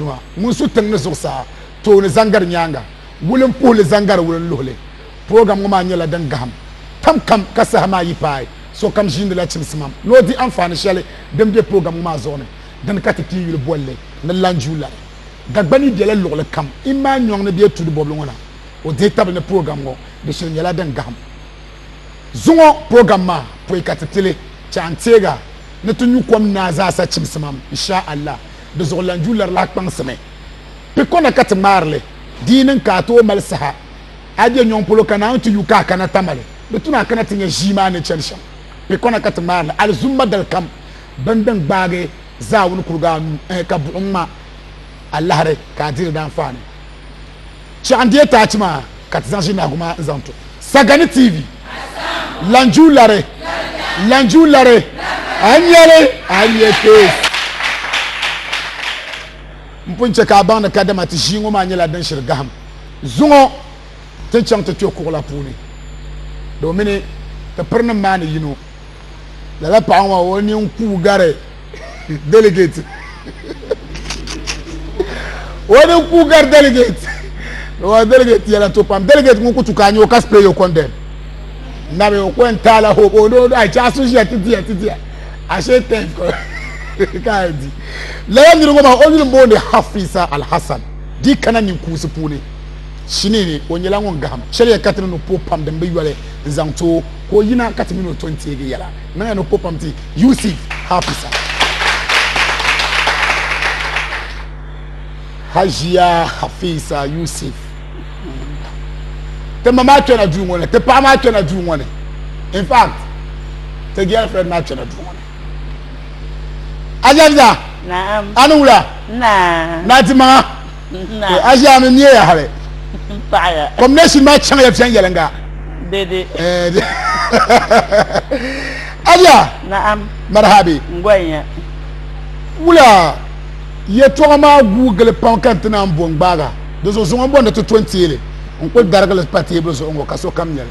nima ŋun su tiŋ ni zuɣusaa, tooni zaŋ gari nyaaŋa, wulim puhi li zaŋ gari wulin luhi li. Purogram ŋɔ maa nyɛla din gahim tam kam ka saha maa yi paai, sokam ʒiindi la chimsimam ni o di anfaani shɛli din be purogram ŋɔ maa zuɣu ni. Dini ka ti pii yuli boli li ni Lanjuulari. Dagbani bela luɣili kam imaa nyɔŋ ni bee tuuli bɔbili ŋɔ na. O dihi tabili ni purogram ŋɔ di shili nyɛla din gahim. Zuŋɔ purogram maa pɔi ka ti ti li chaŋ n-teeg a ni ti nyu kom naa zaasa chimsimam, Insha Allah. di zuɣu lan ju lari lahi kpaŋsimi. Pi ko na ka ti ŋmaari li, di yi niŋ ka a tooi mali saha, a be nyɔŋ polo ka Naawuni ti yu ka a kana Tamale, di tuna a kana ti nya ʒii maa ni chani shɛm. Pi ko na ka ti ŋmaari li, alizumma dalikam bini din gbaagi zaawuni kuriga anu, ɛɛ, ka buɣim ŋma alahiri ka a di di daanfaani. Chɛɣu n deei taachi maa ka ti zaŋ ʒini nahigu maa n zaŋ to Sagani TV Lanjuu Lari Lanjuu Lari a ni nyɛli a ni nyɛ kpee n pun chɛ ka a baŋ ni kadama ti ʒii ŋɔ maa nyɛla din shiri gahim zuŋɔ ti ni chaŋ ti kpɛ kuɣu la puuni domini ti pirinim maa ni yino lala paɣa ŋɔ o nini kuui gari delegate o nini kuui gari delegate wa delegate yɛla to pam delegate ŋɔ kutu ka nyɛ ka spray your condemn na bɛ o ko n taala hope o do a chaɣa so ʒiya ti diya ti diya a shee tɛn ko ka di lala nini ŋɔ maa o nini booni hafisa alhassan di kana nin kuusi puuni shinini o nyɛla ŋun gaham shɛli ya katini ni po pam din bi yɔli n zaŋ too ka o yina ka ti mini o to n-teegi yɛla niŋya ni ko pam ti Yusuf Hafisa. Hajiya Hafisa Yusuf, ti ma maa kpɛna duu ŋɔ ni, ti paɣa maa kpɛna duu ŋɔ ni, in fact, ti girlfriend maa kpɛna duu ŋɔ ni. Ajaviza, a ni wula? Naa! Naa dimaŋa. to a ʒiɛhi mi neeya hali kɔmnɛsin maa chaŋla viɛnyɛliŋga abiya marahabi wula yɛtɔɣa maa guui gili pam ka n ti naan bo n gbaaga di zuɣu zuŋɔ n bɔndi ti to n teeli n kuli darigili pa teebuli zuɣu ŋɔ ka sokam nyɛli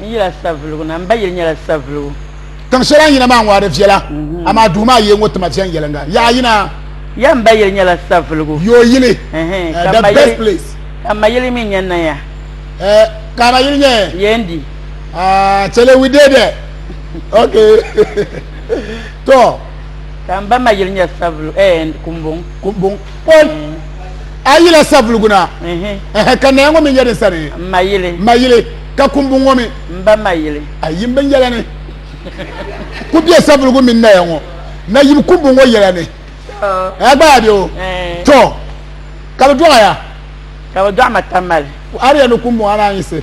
N yila savuligu na, m ba yili nyɛla savuligu. Tiŋ shɛli a ni yina maa ŋɔ a di viɛla, mhm. amaa duu maa yeeŋɔ tima viɛnyɛliŋga. Yaha yina. Ya m ba yili nyɛla savuligu. Yo yili, eh, the best place. Ka m ma yili mi nyɛ Naya. Eh, ka a ma yili nyɛ? Yendi. Ah, chɛli we did it. Ok. To. Ka m ba ma yili nyɛ savuligu, eh, Kumbuŋ. Kumbuŋ. Paul a yila savuligu na ɛhɛ ka naya ŋɔ mi nyɛ din sani ma yili ma yili ka kumbu ŋɔ mi n ba ma yili a yim bin yɛla ni ku bɛ savuligu mini naya ŋɔ na yim kumbu ŋɔ yɛla ni a gba a bɛ o to ka bi dɔɣaya ka bi dɔɣa ma tamali a di yɛn ni kumbu ŋɔ a naan yisi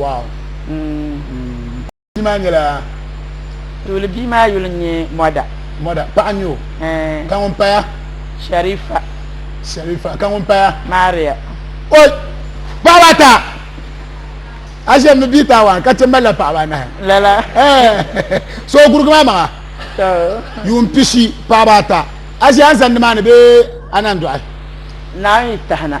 Bia maa nyɛla tuuli bia maa yuli n nyɛ mɔda mɔda paɣa nyɛ o ka ŋun paya sharifa sharifa ka ŋun paya maria o paɣaba ata a shɛm ni bia taawan ka ti malila paɣaba anahi lala so gurugi maa maŋa yuun pishi paɣaba ata a shɛ an zandi maa ni bee anan dɔɣi naan yi tahina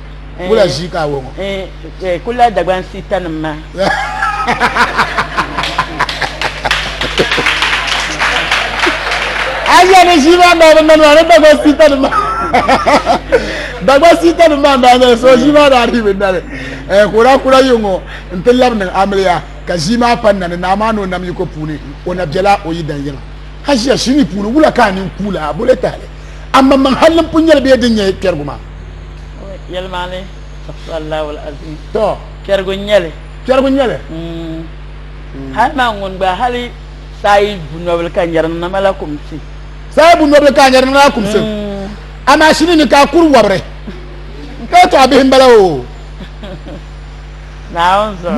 wula ʒii ka awɔ ŋɔ kula dagban sita nim ma aja ni ʒii maa maa ni nani maa ni dagban sita nim ma dagban sita nim maa maa nani so ʒii maa daa ribi nani kura kura yi ŋɔ n ti labi niŋ amiliya ka ʒii maa pa nani naa maa ni o nam yiko puuni o na biɛla o yi dan yɛla hajiya shini puuni wula ka a nin kuula a bole tahali amma man halin punyɛli bee din nyɛ kpɛrigu maa yɛlimaani asallahu azim to kpɛrigu nyɛli kpɛrigu nyɛli mm. mm. hali maa ŋun gba hali saayi bunɔbili ka nyɛri niŋna mala kumsi saayi bunɔbili ka nyɛri niŋna kumsi mm. amaa shini ni ka kuri wɔbiri ka to a bihi m-bala o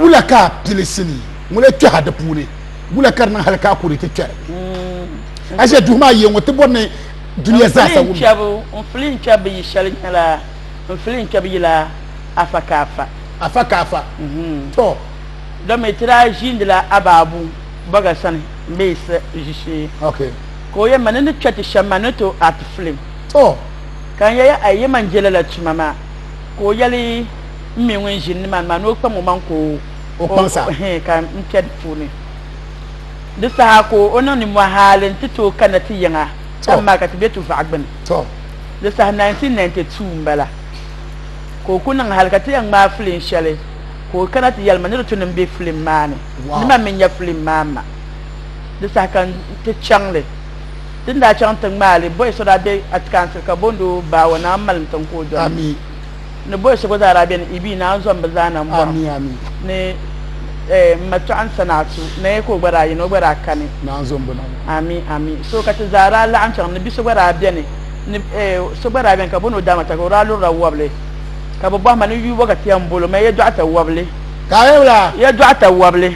wula ka pilisi ni ŋun kpɛha di puuni wula ka di niŋ hali ka kuri ti kpɛri mm. a duhi maa yɛ ŋɔ ti bɔri ni duniya zaasa wum. N fili n kpɛbu yi shɛli nyɛla n fili n kpɛbu yila afa ka afa. Afa ka afa. Mhm. To. Domi ti daa ʒiindila Abaabu Baga sani m-be Yisa ʒishee. Ok. Ka o yɛn ma ni ni kpɛ ti shɛm maa ni ti o aati filim. To. Ka n yɛya ai yɛma n-je lala tuma maa. Ka o yɛli m mi ŋun ʒini nimaani maa ni o kpam o maŋ ka o. O kpaŋ sa. Hee ka m kpɛ di puuni. Di saha ka o niŋ nimmɔhi hali nti tooi kana ti yiŋa tam maa ka ti be Tuvaɣu gbini. Di saha 1992 m-bala ka o ku niŋ hali ka ti yɛn ŋmaai filim shɛli ka o kana ti yɛli ma ni di tu ni m-be filim maa ni ni ma mi nya filim maa ma. Di saha ka nti chaŋ li. Ti ni daa chaŋ nti ŋmaai li, Boyce daa be Atikansil ka booni o Baawa Naa m-malim tiŋ ka o dɔna. ni bɔhi so gba zaa daa bɛ ni Ibi Naa Zɔn bi zaa na n bɔri ni n ma Tɔɣin Sanaatu Naya ka o gba daa yini o gba daa kani ami ami so ka ti zaa daa laɣim chaŋ ni bi so gba daa bɛni ni so gba daa bɛni ka bɔ ni o daama taka o daa lurila wɔbili ka bi bɔhi ma ni yuubɔ ka ti yɛn bolo ma yɛdɔɣita wɔbili yɛdɔɣita wɔbili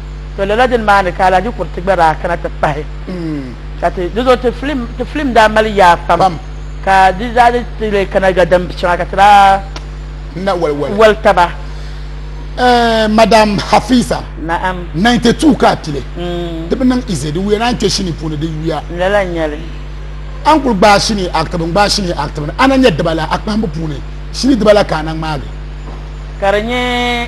to lala dini maa ni ka Alhaji Kuriti gba daa kana ti pahi ka ti di zuɣu ti filim ti filim daa mali yaa pam Pam. ka di daa di ti lee kana ga din shɛŋa ka ti daa na wali wali wali taba Eh, madam hafiza naam 92 ka a tili Mm, ti bi niŋ ize di wuya naan kpɛ shini puuni di wuya lala n nyɛli a ni kuli gbaai shini aktibi n gbaai shini aktibi ni a na nyɛ dibala a kpahimbu puuni shini dibala ka a na ŋmaagi ka di nyɛ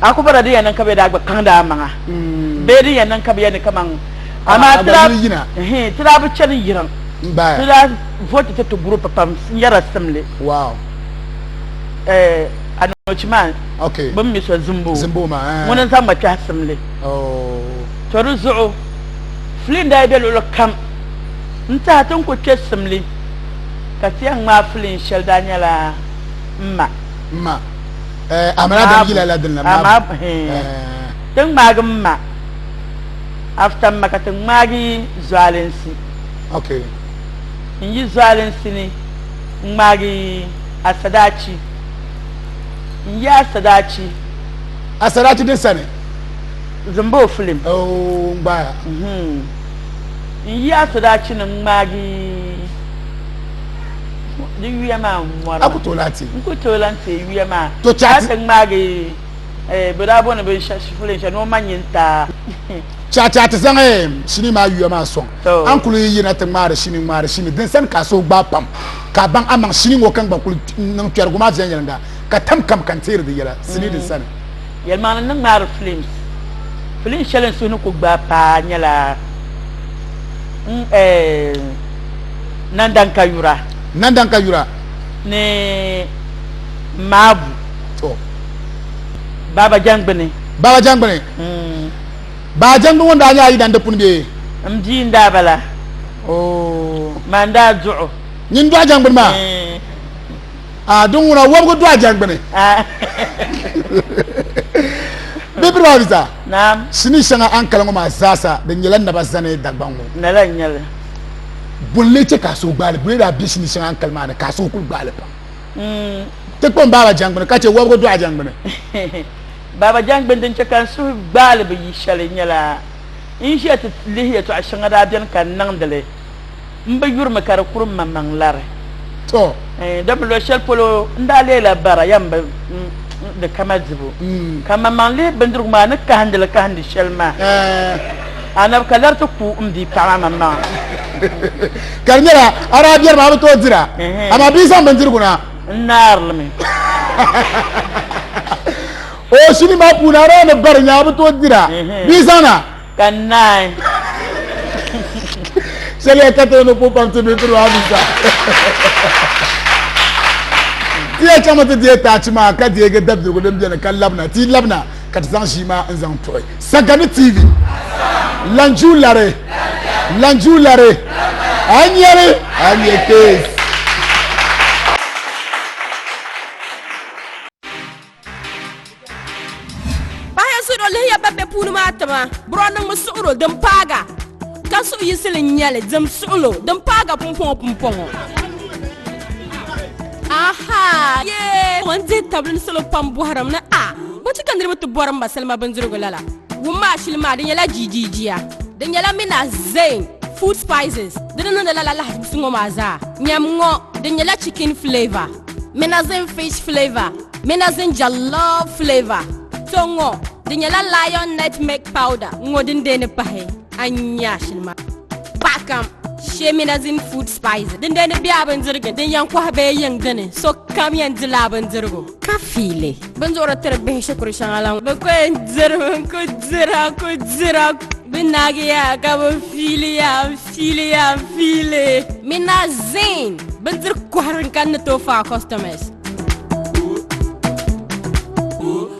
A ku bɔra din yɛn niŋ ka bɛ daa gba kaŋdi a maŋa mm. bee din yɛn niŋ ka bɛ yɛn ni kaman amaa ti daa ti daa bi chani yirim ti daa voti ti ti gurup pam n-yɛra simli eh, anoochi maa bɛ mi so zimbo eh. ŋuni n-zaŋ ma kpɛhi simli oh. to di zuɣu fili n-daa be luɣili kam n-tahi ti n-ku kpe simli ka ti yɛn ŋmaai fili shɛli daa nyɛla m ma ti ŋmaagi m ma after ma ka ti ŋmaagi zualinsi n yi zualinsi ni n ŋmaagi asadaachi n yi asadaachi asadaachi din sani zimba o filim oh, n yi asadaachi ni n ŋmaagi di yuya maa n mɔra aku tooi lahi teei n ku tooi lahi teei yuya maa To chati- ka ti ŋmaagi eh, bɛ daa bɔni binshɛli shifulin shɛli ni o ma nyi n taa Chacha ti zaŋ eh, shini maa yuya maa sɔŋ To. an kuli yi yina ti ŋmaari shini ŋmaari shini din sani ka a suhu gbaai pam ka a baŋ amaŋ shini ŋɔ ka n gba kuli niŋ kpɛrigu maa viɛnyɛliŋga ka tam kam ka n teeri di yɛla sinii din sani Yɛlimaŋli ni ŋmaari films. Film shɛli n suhu ni ku gbaai paa nyɛla Nandan ka yura. Nandan ka yura. Ni Maabu. To. Baaba Jangbini. Baaba Jangbini. Mm. Baaba Jangbini ŋun daa nyɛla yi dandi puni bee? N bia n daa bala. Oh. Maa n daa duɣu. Nyin dɔɣi Jangbini maa. Mm. a di ŋuna wɔbigu do a jɛngbuni bibiri maa bisa sinii shɛŋa a ni kali ŋɔ maa zaasa di nyɛla naba zani dagbaŋ ŋɔ nala nyɛli bonli chɛ ka a suhu gbaali buli daa bɛ sinii shɛŋa a ni kali maa ni ka a suhu kuli gbaali pam mm. ti kpam baaba jɛngbuni ka chɛ wɔbigu do a jɛngbuni baaba jɛngbuni din chɛ ka n suhu gbaali bi yi shɛli nyɛla n ʒiya ti lihi yɛtɔɣa shɛŋa daa bɛni ka n niŋdili m bi yurimi ka di kuri m maŋmaŋ lari. Tɔ! Dama luɣ shɛli polo n daa leela bara ya m-bi di kama dibu, ka maŋmaŋ lihi bindirigu maa ni kahindi li kahindi shɛli maa, Anabi ka lari ti ku m bia paɣ maa maŋmaŋa. Ka di nyɛla a daa bɛri mi a bi tooi dir a, amaa bɛ yi zaŋ bindirigu na, n naari li mi. O shini maa puuni a daa ni bari ni a bi tooi dir a, bɛ yi zaŋ na. Ka naan. Shɛli ya ka ti ni ku pam ti mi piri maa bisa. Ti ya chaŋmi ti deei taachi maa ka deegi dabirigu din beni ka labina. Ti labina ka ti zaŋ ʒii maa n-zaŋ tuɣi Sagani TV. Lanju lari! Lanju lari! A nyɛri! A nyɛ kees! Bahi sudo lihiya ban be puuni maa tima bro niŋmi suɣuro din paaga ka suɣu yisili n nyɛli dim suɣulo din paaga pumpɔŋɔ pumpɔŋɔ aha yee n dihi tabili ni salo pam bɔhirim ni a bo ti ka niriba ti bɔri m ba salima bindirigu lala wum maa shili maa di nyɛla jiijiijia di nyɛla mina zain food spices di ni niŋdi lala lahizibusi ŋɔ maa zaa nyam ŋɔ di nyɛla chicken flavor Minazin fish flavor, Minazin jollof flavor, to ŋɔ di nyɛla lion nutmeg powder ŋɔ din deeni pahi a nya shili ma paɣa kam shee Minazin food spice din deeni bɛ a bindirigu din yɛn kɔhi bee yiŋ dini so kam yɛn di la a bindirigu ka fiili binduɣiri tiri bihi shikuru shɛŋa la bi ko yɛn diri mi n ku dira ku dira bi naagiya ka bi fiiliya Fiili ya fiili. Mina zin bindiri kohiri n kan ni tooi faai customers.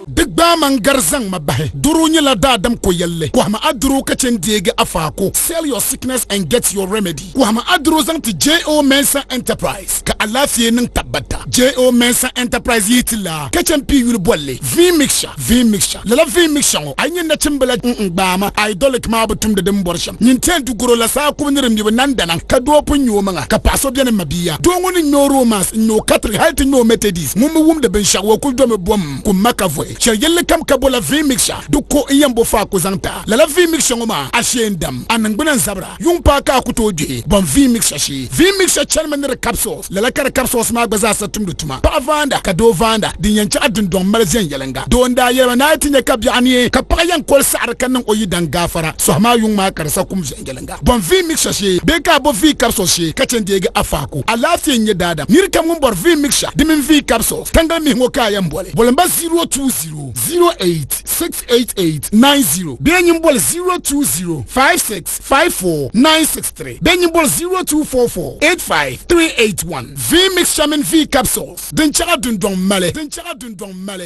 Di gbaai ma n-gari zaŋ ma bahi. Doro nyɛla daadam koyalli. Kɔhimi a doro ka chɛ n-deegi a faako. Sell your sickness and get your remedy. Kɔhimi a doro zaŋ ti JO Mensah Enterprise. ka alaafee niŋ tabbata. JO Mensah Enterprise yihi ti laa ka chɛ m-pii yuli bolli Vin Mixture, Vin Mixture. Lala Vin Mixture ŋɔ, a yi nya nachimbila ŋun n-gbaai ma, Idolic, maa bi tumdi din bɔri shɛm. Nyin tɛn du garo la saa kubu ni di ŋmibu nandanaŋ ka doo pun ŋme omaŋa, ka paɣ so beni ma bia. Doo ŋɔ ni ŋme o romance n-nya o Catholic hal ti nya o Methodist ŋun mi wumdi binshɛɣu o kul domi bom kum ma ka vohi. Shɛli yɛlli kam ka bola Vin Mixture du ko n-yɛn bo faa ku zaŋ ti a. Lala Vin Mixture ŋɔ maa, a shee n-dam, a niŋgbuna n-zabira. Yuŋ paa ka a ku tooi gbihi bɔm vii mixture shee. Vii mixture chanimi ni di capsules. Lala ka di capsules maa gba zaa sa tumdi tuma. Paɣa vaanda ka doo vaanda din yɛn chaɣi dindɔŋ mali viɛnyɛliŋga. Doo n daa yɛlima ni a yi ti nya ka biɛɣu neei ka paɣa yɛn koli saɣiri ka niŋ o yidaŋ gaafara sɔhi maa yuŋ maa ka di sa kum viɛnyɛliŋga bɔm vii mixture shee bee ka a bo vii capsules shee ka chɛ deegi a faaku. Alaafee n-nyɛ daadam. Nirikam ŋun bɔri vii mixture di mini vii capsules tangali mihi ŋɔ ka a yɛn boli. Boli m ba 0220 08. 68890 bee nyin boli 0205654963 bee nyin boli 024485381 V Mixamin V capsules din chɛɣa dundɔŋ mali din chɛɣa dundɔŋ mali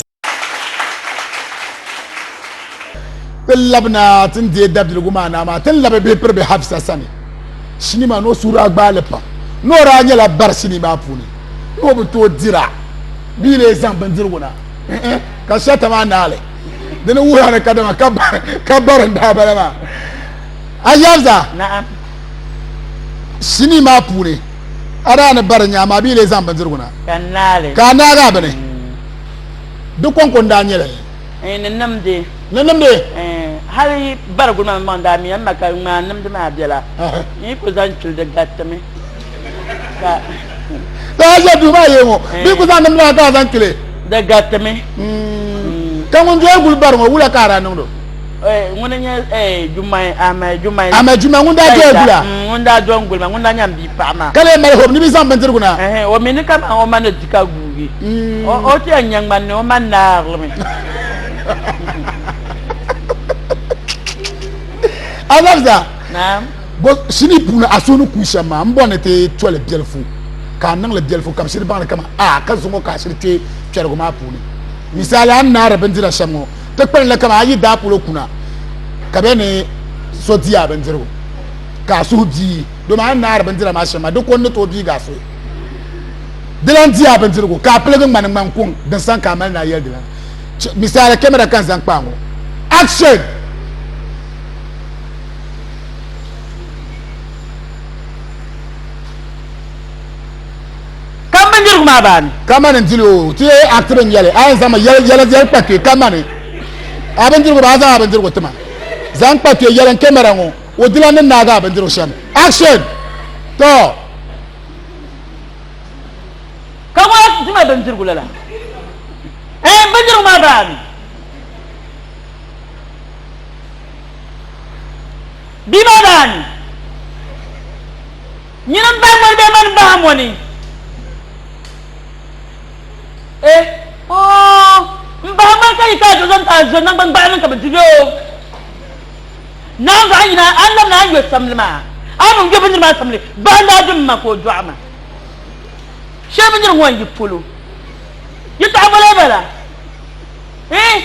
ti labina ti ni deei dabiligu maa naa maa ti ni labi bihi piri bi Hafsa sani sinii maa ni o suhu daa gbaai li pam ni o daa nyɛla bari sinii maa puuni ni o bi tooi dira bee lee zaŋ bindirigu na ka sata maa naali dini wuhira ni kadama ka bari n daa bala maa ayɛza sinii maa puuni adaa ni bari nyaa maa bia lee zaŋ bindirigu na ka a naagaa bini mm. di kɔŋko n daa nyɛli eh, ni nimdi ni nimdi eh, hali bariguli maa maŋ daa miya ma ka ŋmaa nimdi maa bela n yi ku zaŋ chuli di garitimi la a ʒe duu maa yee ŋɔ eh. bee ku zaŋ nim maa ka a zaŋ kili di garitimi hmm. ka ŋun doya guli bari ŋɔ wula ka a daa niŋdo eh, ŋun n nyɛ eh, jumai ahmed jumai ahmed jumai ŋun daa doya gula hmm, ŋun daa do n guli ma ŋun daa nyɛ n bia paɣa maa ka lee mali hob ni bi zaŋ bindirigu na o mi ni ka ma o ma ni di ka guugi hmm. o ti yɛn nyɛ ŋmani ni o ma naarimi a labisa bo sinii puuni a suhu ni kuui shɛm maa m-bɔri ni ti toli biɛlifu ka a niŋli biɛlifu kabisiri baŋdi kaman a ka zuŋɔ ka asiri kpe kpɛrigu maa puuni. Misali, a ni naari bindira shɛm ŋɔ, ti kpali li kaman a yi daa polo kuna ka bɛ ni so di a bindirigu ka a suhu biigi domi a ni naari bindira maa shɛm maa di ko n-ni tooi biigi a suhu. Di lan di a bindirigu ka a piligi ŋmani ŋman kuŋ din sani ka a mali ni a yɛli di lan chɛ. Misali, kɛmɛra ka n zaŋ kpa a ŋɔ. Action! Kam bindirigu maa baani. Kamani n dili o ti yɛ akti bin yɛli a yɛn zaŋ ma yɛli yɛli yɛli kpa kpe kamani a bindirigu ba a zaŋ a bindirigu ti ma zaŋ kpa kpe yɛli n kɛmɛra ŋo o dila ni naagi a bindirigu shɛm action tɔ. Ka ŋo dima bindirigu lala ɛɛ bindirigu maa baani. Bɛ ma daa ni nyin m bahi mɔni bee mani bahi mɔni? E, Oo, m bahi mɔni ka yi ka a dɔzɔni ka a zo naŋgban gbaɣili ni ka bɛ di bɛ o. Naanzuɣu a nyina a ni labi ni a ni yo samli maa, a bi yo bindiri maa samli, bahi n-daa di m ma ka o dɔɣi ma. Shɛli bindirigu ŋɔ n-yi polo, yɛtɔɣa bɔla bala? E,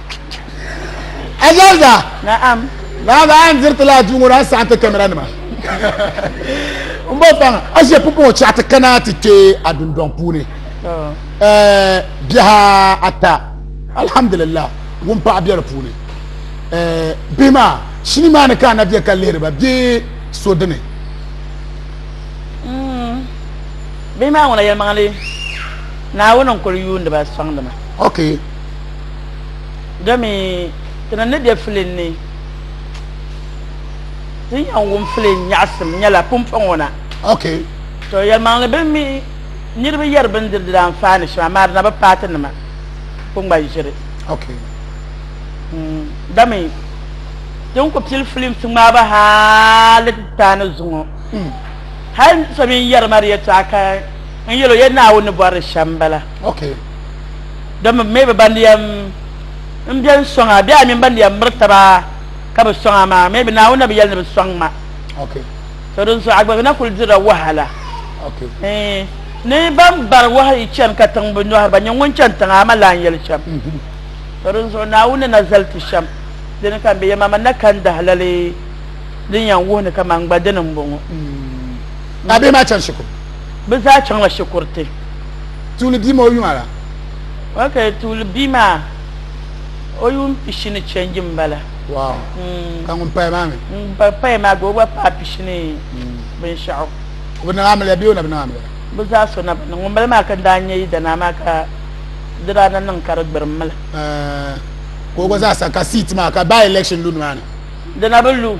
Ajalda. Na'am. Baaba a ni diri ti laa duu ŋɔ daa saɣim ti kamera nima. N bɔ paŋa a ʒe pumpɔŋ o chaɣa ti kana ti kpe a dundɔŋ puuni. Biha ata alhamdulillah wun paɣa bɛ di puuni. Bihi maa shini maa ni ka a na bɛ ka lihiri ba bee so dini. Bihi maa ŋuna yɛlimaŋli Naawuni n-kuli yuundi ba sɔŋdi ma. Okay. Gami ti ni ni be filiŋ ni ti ni yɛn wum filiŋ nyaɣisim nyɛla pumpɔŋɔ na. Okay. To yɛlimaŋli bini mi niriba yɛri bini diri diri anfaani shɛm amaa di na bi paati nima kpungban ʒiri. Okay. Mm, gami ti ni ku pili filiŋ ti ŋmaaba hali ti paani zuŋɔ. Mm. Hali so mi n yɛri ma di yɛtɔɣa ka n yɛli o yɛ Naawuni ni bɔri di shɛm bala. ok don mi mi bi ban yɛm n biɛn sɔŋ a bɛ a mini ban yɛm miri taba ka bi sɔŋ a maa mi bi naawuni na bi yɛli ni bi sɔŋ ma ok so din so agbagi na kuli dirila wahala ok ni ban bari wahi chani ka tiŋ bi nyɔhiri ba nyɛ ŋun chani tiŋa ama lan yɛli shɛm so din zuɣu naawuni na zali ti shɛm dini ka n bɛ yɛma man na kan dahalali din yɛn wuhi ni ka man gba dini n bɔŋɔ a bɛ maa chani shikuru bi zaa chaŋla shikuriti Tuuli bia maa o yuŋ ala. Ok tuuli bia maa o yuŋ pishini change n bala. Wow. Mm. Ka ŋun paya maa mi. Ŋun pa paya maa gba o gba paa pishini mm. binshaɣu. O bi niŋ amiliya bee o na bi niŋ amiliya. Bi zaa so na bi niŋ ŋun bala maa ka daa nyɛ yidanaa maa ka di daa na niŋ ka di gbirim mili. Eh, ka o gba zaa sa ka siit maa ka by election lu nimaani. Dina bi lu.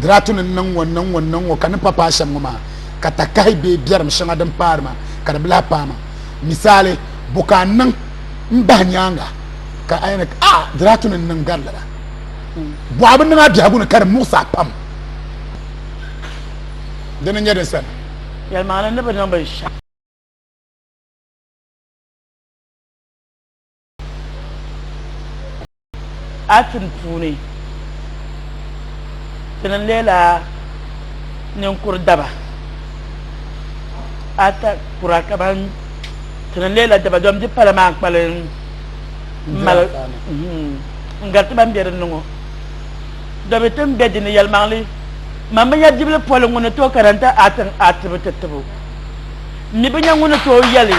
Diraatu ni niŋ ŋɔ niŋ ŋɔ niŋ ŋɔ ka ni pa paai shɛm ŋɔ maa ka takahi bee biɛrim shɛŋa din paari maa ka di bi lahi paai maa. Misali, bo ka n niŋ m bahi nyaaŋa ka a yɛn ni a Diraatu ni niŋ gari lala? Bɔɣa bi niŋ a biɛhigu ni ka di muɣisi a pam. Dini n-nyɛ din sani. Yɛlimaŋli ni bi niŋ binshɛɣu. Atim puuni, ti ni leela ninkur daba ata kura ka ban ti ni leela daba dom di pala maa kpali mali n gariti ban bɛ dinni ŋɔ dobi tin bɛ dinni yɛlimaŋli man binyɛri dibili poli ŋuni to karanta atin atibu ti tibu m mi bi nya ŋun ni tooi yɛli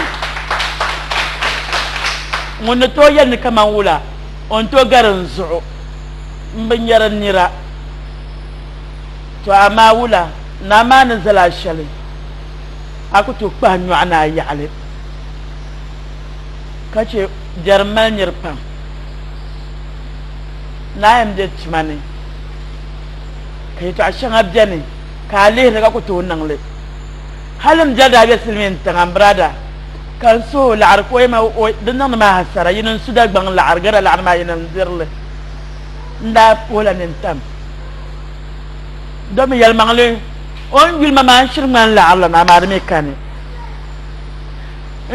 ŋun ni tooi yɛli ni kaman wula o ni tooi gari n zuɣu m bi nya di nira. Tɔ amaa wula naa maa ni zali a shɛli a ku tooi kpahi nyɔɣu ni a yaɣili ka chɛ biɛrim mali nir pam naa yɛn be tuma ni ka yɛtɔɣ shɛŋa beni ka a lihiri ka ku tooi niŋ li. Hali m biɛri daa be silimiin tiŋa m birada ka n suhi o laɣiri ka o yɛma o di niŋdi ma hasara yini n su Dagbaŋ laɣiri gɛda laɣiri maa yini n diri li n daa puhi la nini tam domi yɛlimaŋli o ni yuli ma maa n shiri ŋmani laɣiri la ni amaa di mi kani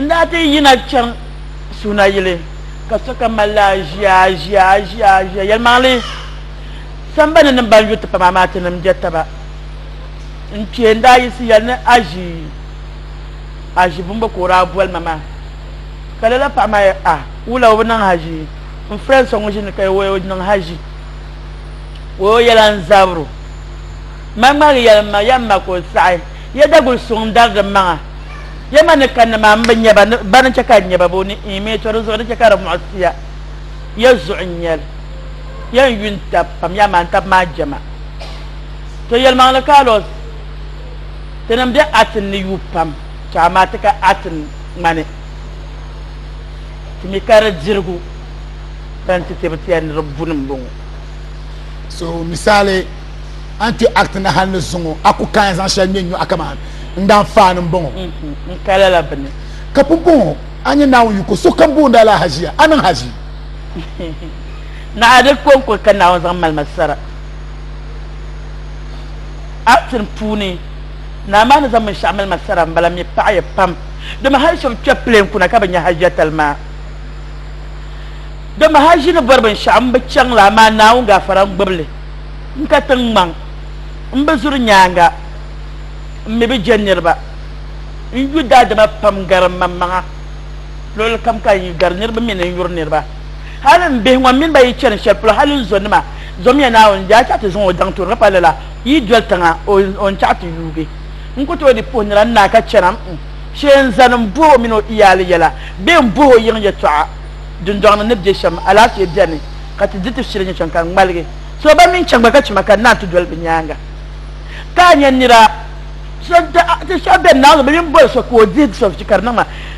n daa ti yina chaŋ Suunayili ka sokam mali la aʒia aʒia aʒia aʒia yɛlimaŋli sambani ni ban yu ti pam amaa tinim be taba N kpee n daa yiɣisi yɛli ni Aʒi, Aʒi bumbu ka o daa boli ma maa. Ka lala paɣa maa yɛli, A, wula o bi niŋ haʒi? N friend so ŋun ʒini ka o yɛli o niŋ haʒi. O yo yɛla n zabiri o. Ma ŋmaligi yɛli m ma, Ya m ma ka o saɣi. Ya Daguli suŋ n dari di maŋa. Ya ma ni kanna maa m bi nya ba, ba ni chɛ ka n nya ba bee o ni iin mi tɔ di zuɣu di chɛ ka di muɣisi ya. Ya zuɣu n-nyɛ li. Ya n-yu n-tab pam, ya maa n-tab maa jɛma. To yɛlimaŋli Carlos, tinim be Atin ni yuui pam, tɔ amaa ti ka Atin ŋmani ti mi ka di dirigu ban ti ti bi ti ya ni di buni m-bɔŋɔ. So misali, a ni kpe Atin hal ni zuŋɔ, a ku kaai zaŋ shɛli ŋme n-nyo a kaman n daa faani m-bɔŋɔ. Mm-hmm. N ka lala bini. Ka pumpɔŋɔ a nya Naawuni yiko, sokam booni a la haʒiya, a niŋ haʒi. Naɣa di kɔŋko ka Naawuni zaŋ mali ma sara. acting puuni naa maa ni zaŋ binshaɣu mali ma sara n bala mi paɣaya pam dama hali shɛba kpɛ plane kuna ka bi nya hajiya tali maa dama haji ni bɔri binshaɣu n bi chaŋ la amaa naawuni gafara n gbibili n ka tiŋ ŋmaŋ n bi zuri nyaanga n mi bi je niriba n yu daadama pam gari maŋmaŋa luɣuli kam ka n yi gari niriba mi ni n yuri niriba Hali m bihi ŋɔ m mini ba yi chani shɛli polo hali n zonima zomiya Naawuni daa chaɣi ti zaŋ o daŋ turiga pa lala yi doli tiŋa o o n chaɣi ti yuugi n ku tooi di puhi nira n naa ka chana m shee n zani m bohi o mini o iyaali yɛla bee m bohi o yiŋ yɛtɔɣa dundɔŋni ni be shɛm alaafee beni ka ti di ti shili nyɛ chɛŋ ka n ŋmaligi so ba mini chaŋba ka chima ka n naa ti doli bɛ nyaaŋa ka a nya nira so da ti so beni Naawuni bi mini boli so ka o dihi so ka di niŋ ma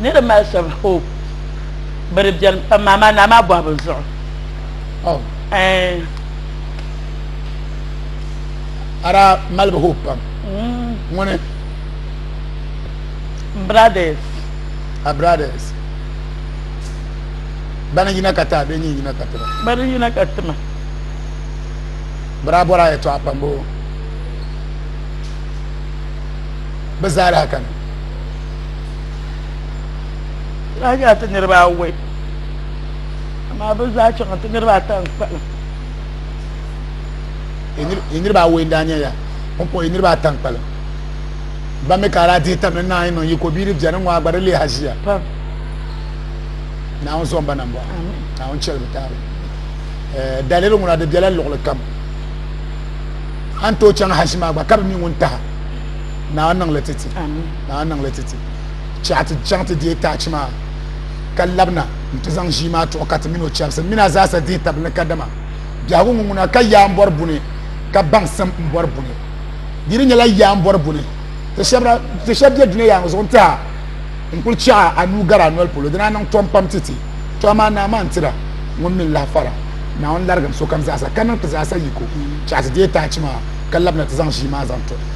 ni di mali shɛb hope bɛ di bɛni pam maa maa naa maa bɔhibu zuɣu oh. eh. ara malibu hope pam ŋuni mm. brothers a brothers bani yina ka ta bɛ yina ka tima bani yina ka tima bira bɔra ya tɔɣa pam boo bi zaa lahi kani daa nyɛla ti niriba awɔi amaa bɛ zaa chaŋa ti niriba ata n kpalim yi niriba awɔi n daa nyɛ ya ŋun kpuɣi yi niriba ata n kpalim ban mi ka daa dihi tam ni naanyi niŋ yiko bia ni bɛni ŋɔ gba di leei haziya naawuni zɔn ba nambɔɣu naawuni chɛli bi taali eh, daliri ŋuna di bɛla luɣuli kam an tooi chaŋ hazi maa gba ka bi mi ŋun taha naa niŋli ti ti naa niŋli ti ti chɛɣu ti chaŋ ti deei taachi maa ka labina n ti zaŋ ʒii maa tuɣi ka ti mini o chɛbisi mini a zaasa dihi tabi ni kadama biɛhigu ŋun ŋuna ka yaa n bɔri buni ka baŋsim n bɔri buni di di nyɛla yaa n bɔri buni ti shɛba bɛ dunia yaa ŋɔ zuɣu n tiha n kuli chɛɣa a nuu gari a noli polo dina niŋ tɔm pam ti ti tɔha maa naa maa n tira ŋun mini lahi fara naawuni larigim sokam zaasa ka niŋ ti zaasa yiko chɛɣu ti deei taachi maa ka labina ti zaŋ ʒii maa zaŋ tuɣi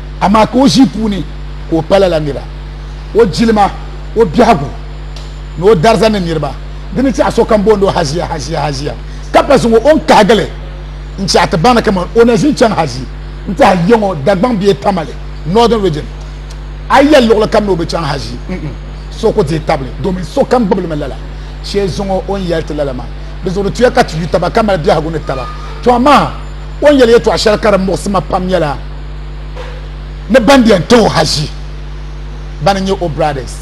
amaa ka o ʒii puuni ka o pala la nira o jilima o biɛhigu ni o dariza ni niriba di ni chaɣi sokam booni o haʒia haʒia haʒia ka pa zuŋɔ o ni kahigili n chaɣi ti baŋ ni kaman o na ʒin chaŋ haʒi n ti hali yiŋɔ Dagbaŋ bee Tamale Northern Region a yi yɛli luɣili kam ni o bi chaŋ haʒi so ku deei tabili domin sokam gbubilimi lala shee zuŋɔ o ni yɛli ti lala maa di zuɣu di tuya ka ti yu taba ka mali biɛhigu ni taba to amaa o ni yɛli yɛtɔɣ shɛli ka di muɣisi ma pam nyɛla ni ban biɛn ti o haʒi ban n-nyɛ o brothers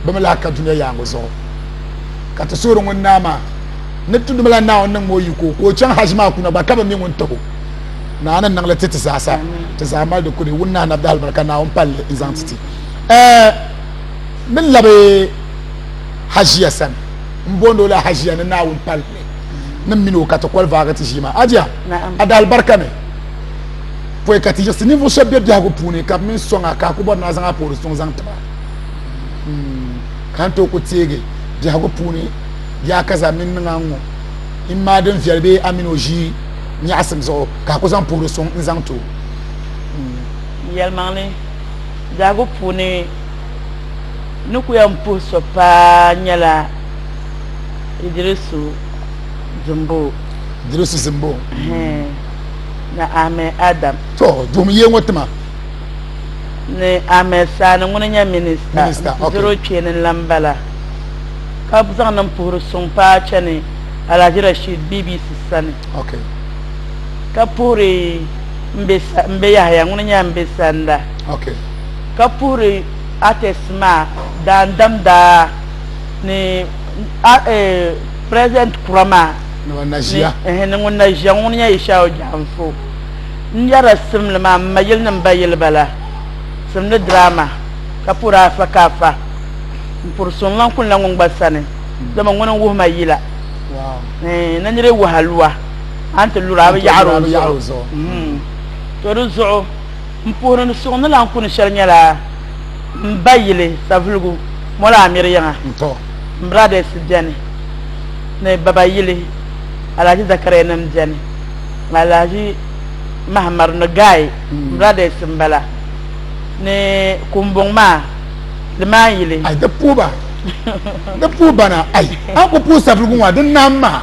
bɛ mi lahi ka dunia yaaŋɔ zuɣu ka ti suhiri ŋun naa maa ni ti dumila Naawuni niŋm o yiko ka o chaŋ haʒi maa kuna gba ka bɛ mi ŋun tib o. Naa ni niŋli ti ti zaa sa ti zaa mali di kuli wun nahi nabdahili bala ka Naawuni palli n-zaŋ ti ti. Ɛɛ ni labi haʒiya sani m-booni o la haʒiya ni Naawuni palli. ni mini o ka ti koli vaagi ti ʒii maa adia a da alibarika ni pɔi ka ti yiɣisi ninvuɣu shɛba be biɛhigu puuni ka bɛ mini sɔŋ a ka a ku bɔri ni a zaŋ a poori suŋ zaŋ ti ba hmm. ka n tooi ku teegi biɛhigu puuni yaa ka za mini niŋ a ŋɔ in maa din viɛli bee a mini o ʒii nyaɣisim zuɣu ka a ku zaŋ poori suŋ n zaŋ ti o hmm. yɛlimaŋli biɛhigu puuni ni ku yɛn puhi so paa nyɛla Idirisu Zimbo. Idirisu Zimbo. Ni Ahmed Adam. To duhum yee ŋɔ tima. Ni Ahmed Sani ŋuni nyɛ minista. Minista ok. Zero kpeeni n lan bala ka zaŋ nin puhiri suŋ paai chani Alhaji Rashid BBC sani. Ok. Ka puhiri Mbe Yahaya ŋuni nyɛla Mbe Sanda. Ok. Ka puhiri artist maa Daandam Daa. ni president kura maa ni ŋun na ʒiya ŋun nyɛ Ishawo Janfo n nyɛla simli maa ma yili ni n ba yili bala simli drama ka puri afa ka afa n puri so n lan kuli na ŋun gba sani dama ŋuni n wuhima yila na niri waha lua a ni ti lura a bi yaɣari o zuɣu to di zuɣu M puhiri ni suɣ ni lan kuni shɛli nyɛla m ba yili Savelugu Molo Amir yiŋa. M brothers beni ni baba yili Alhaji Zakariya nim beni ni Alhaji Mahamar ni Gai m brothers m-bala ni Kumbuŋ maa Limaan yili. Ai di puhi ba di puhi bana ai an ku puhi Savelugu ŋɔ a di naam maha.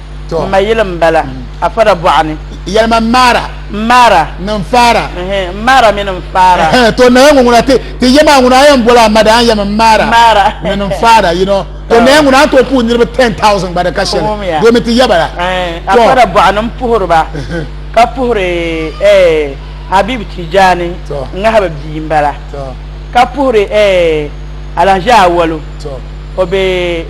n ma yili n bala a fara bɔɣa ni yɛlima n maara n maara ni n faara n maara mini n faara to naya ŋɔ ŋuna ti yɛ maa ŋuna a yɛn boli a mada a yɛmi n maara maara mini n faara you know to naya ŋuna a to puhi niriba ten thousand gba di ka shɛli domi ti yɛ bala a fara bɔɣa ni n puhiri ba ka puhiri eh, Habib Tijani ŋahiba bia n bala ka puhiri eh, Alhaji Awalu o be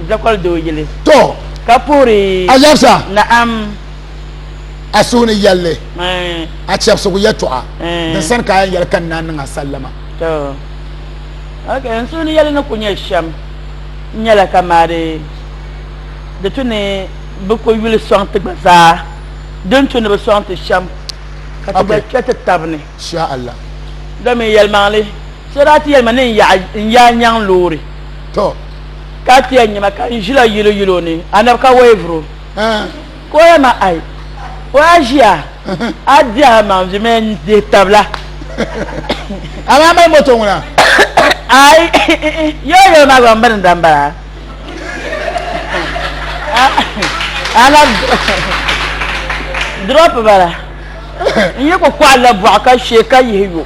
zakɔli doo yili to ka puhiri alabsa na'am a suhu ni yɛlli a chɛbisigu yɛtɔɣa din sani ka a yɛn yɛli ka n naan niŋ a sallama to ok n suhu ni yɛlli ni ku nyɛ shɛm n nyɛla ka maari di tu ni bi ku yuli sɔŋ ti gba zaa din tu ni bi sɔŋ ti shɛm ka ti gba kpɛ ti tabi ni sha Allah domin yɛlimaŋli So daa ti yɛli ma ni n yaɣi n yaa nyaŋ loori To. ka ti yɛn nya ma ka n ʒila yili yili o ni Anabi ka wei vuri o. Ah. Ka o yɛli ma, Ai, o yaa ʒiya, a dihi a maŋ vi mi n dihi tab la. A maa mali moto ŋuna? Ai, yɔɔ yɔɔ maa gba m birinda m-bala. Anabi drop ba la. N yi ku kɔɣili la bɔɣu ka shee ka yihi yo.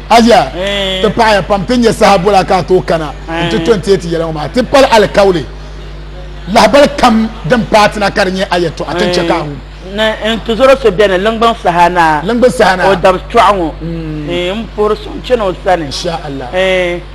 Aziya ti paɣaya pam ti nyɛ saha bola ka a tooi kana n ti to n teeti yɛla ŋɔ maa ti pali alikauli lahabali kam din paatina ka di nyɛ a yɛtɔɣa ti chɛ ka a wum ni n ti zɔri so bɛni liŋgbiŋ saha naa liŋgbiŋ saha naa o dabi tɔɣu ŋɔ n puhiri so n chani o sani insha Allah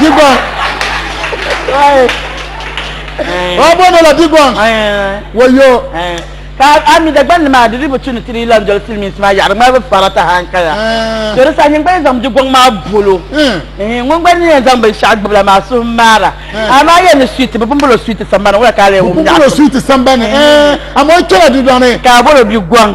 Digɔŋ. Wa bɔno la Digɔŋ. Wayo. Ka a mi Dagban ni maa di di bi tu ni ti di lan doli Silimiinsi maa yaɣiri ŋmari bi fara taha n kaya. To di saha nyin gba yi zaŋ Digɔŋ maa bolo ŋun gba ni yɛn zaŋ binshɛɣu gbubi la maa suhu maara. Amaa yɛn ni suiti bi pumpolo suiti sambani ŋɔ la ka a lee wum nyaɣisim. Pumpolo suiti sambani amaa o kpɛla Digɔŋ ni. Ka a bolo Digɔŋ.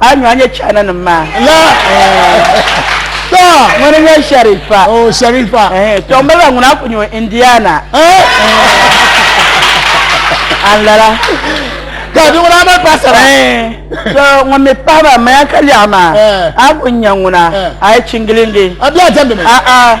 A nyu a nya China nim maa. La to ŋuni n nyɛ Sharifa. Oh Sharifa. Eh to n maliba ŋuni a ku nyu Indiana. A n lala. Ka di ŋuni a mali paɣasara. Eh to ŋun mi pahi ba maya ka lɛɣu maa a ku nya ŋuna a yi chingilingi. A bia a tandi mi. A a.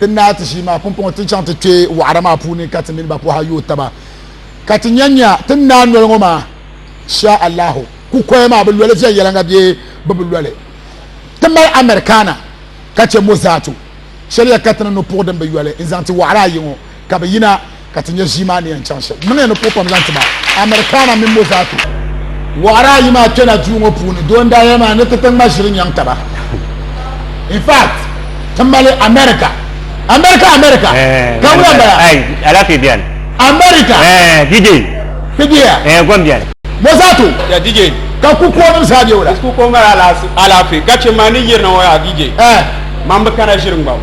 Ti naai ti ʒii maa pumpɔŋɔ ti chaŋ ti kpe wɔɣira maa puuni ka ti mini ba pɔha yooi taba ka ti nya nya ti ni naai noli ŋɔ maa shaa Allahu. Kukoya maa bi loli viɛnyɛliŋga bee bɛ bi loli. Ti mali Americana ka chɛ Mozart. Shɛliya ka ti ni no puɣi din bi yoli n-zaŋ ti wɔɣira ayi ŋɔ. ka bɛ yina ka ti nya ʒii maa ni yɛn chaŋ shɛm. Niŋ ya ni puhi pam zaŋ ti ma, Americana mini Mozatu. Wɔɣiri ayi maa kpɛla duu ŋɔ puuni, doo n-daa yɛli ma ni ti ti ŋma ʒiri nyaŋ taba. In fact, ti mali America. America, America! Ka wula m-bala? Ai, alaafee bɛni. America! Eh, DJ! Ti bɛ ya? Eh, gom bɛni. Mozatu! Ya DJ! Ka kukuonim zaa bɛ wula? Disco ko mali alaafee, ka chɛ ma ni yirina ŋɔ yaa DJ, Eh! Man bi kana ʒiri ŋmabu.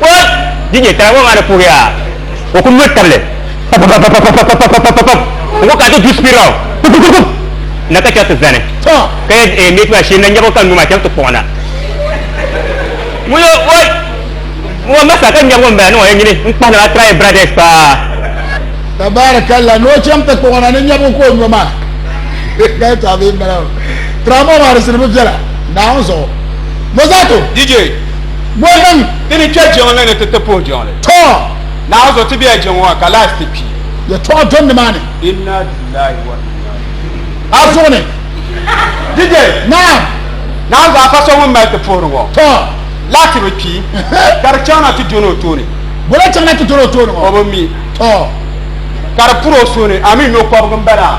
Kɔd! DJ Tara ŋɔ maa ni puhi yaa o ku lo tabili papapapapapapapapap n ku kana ti du spiral pupupupuppup na ka chɛ ti zani ka yɛl eeh mate maa shee na nyɛbu ka n nuu maa chani ti kpuɣi na ŋun yo oi ŋɔ ma sa ka nyɛbu n bala niŋ o ya nyini n kpahi na maa try brades paa. Tabaarakallah ni o cham ti kpuɣi na ni nyɛbu ka o nyo maa ka yɛtɔɣa bee n bala maa Tara ŋɔ maa di siri bi viɛla Naawuni zuɣu Mozarto. DJ. Bɔ niŋ ti ni kpe jiŋli ni ti ti puhi jiŋli? Tɔ! Naawuni so, ti bela jiŋli ŋɔ ka laati ti kpi. Yɛtɔɣa do nimaani. Inna lillahi wa inna ilayhi. A zuɣu ni. DJ! Naam! Naawuni so, a pa so ŋun mali ti puhiri ŋɔ. Tɔ! Laati bi kpi, ka di chaŋ na ti doni o tooni. Bɔla chaŋ na ti doni o tooni ŋɔ? O bi mi. Tɔ! Ka di puri o suhu ni, a mi nyo kɔbigu m-bala?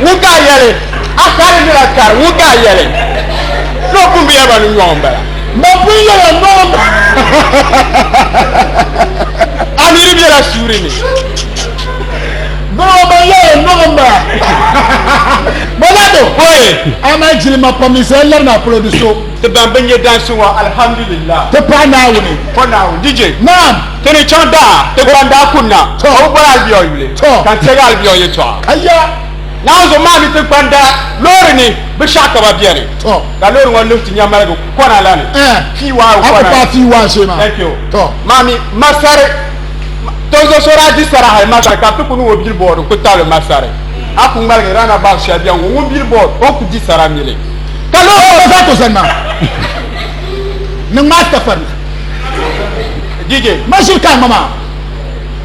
Ŋun ka a yɛli, A kari nira kari, ŋun ka a yɛli, Ni o pun bi yɛli ba ni nyɔɣu m-bala. Ba pun yɛli a nyɔɣu m-bala. A niri bela suuri ni. Bɛ ŋɔ ban yɛli a nyɔɣu m-bala. Ba daa be hooyi, amaa jilima pam ni zaya lari ni a polo di so. Ti ban bi nya dansi ŋɔ, Alhamdulillah. Ti paɣa Naawuni. O Naawuni, DJ. Naam! Ti ni chaŋ daa, ti gba n daa kunna, ka bi boli Albion yuli, ka n teegi Albion yɛtɔɣa. Aya! Naanzu maa ni ti gbanda loori ni bi shɛɣu ka ba beni, ka loori ŋɔ luhi ti nya maligu kɔna la ni, fii waa o kɔna ni, maa mi Masari, Tonzo so daa di sara hali Masari ka bi ti ku niŋ o billboard n-ku tabili Masari. A ku ŋmaligi runabout shɛli beni ŋɔ, ŋun billboard o ni ku di sara mili, ka loori ŋɔ. DJ. Machine kan mama.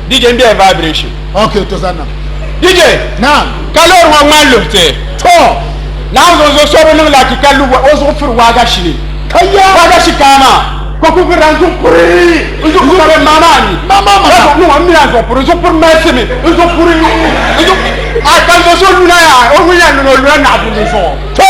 DJ n bɛ vibration. Okay to zanna. DJ. Naam. Ka loori ŋɔ ŋmani luɣite. To. Naam zonzo so bi niŋ laki ka lu o zuɣu firi waagashi ni. Ka ya. Waagashi kaa maa. Ka ku viri n zuɣu puri. N zuɣu puri ka maa maa ni. Maa maa maa. Ka niŋ o mi n zuɣu puri n zuɣu puri mɛsi mi n zuɣu puri n zuɣu. A ka zonzo luna ya o ŋun ya luna o luna naɣi dundun zuɣu. To.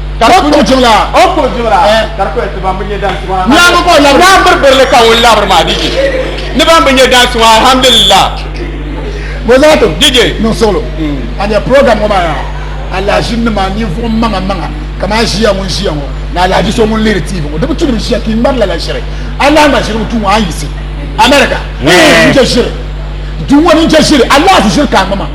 ka di kuli jibila o kuli jibila eh. ka di kuli ti ban bi nyɛ dan suŋa nyaanga ka o labiri yaa biri birili ka ŋun labiri maa dije ni ban bi nyɛ dan suŋa alhamdulillah bozaato dije niŋ suɣulo a nyɛ program ŋɔ maa yaa alhaji nima ninvuɣu maŋa maŋa kamani ʒiya ŋun ʒiya ŋɔ ni alhaji so ŋun lihiri tv ŋɔ di bi tulim ʒiya ka i ŋmari lala ʒiri allah ŋa ʒiri ŋɔ tuu ŋɔ a yi si america n chɛ ʒiri duu ŋɔ ni n chɛ ʒiri allah ti ʒiri ka a ŋma maa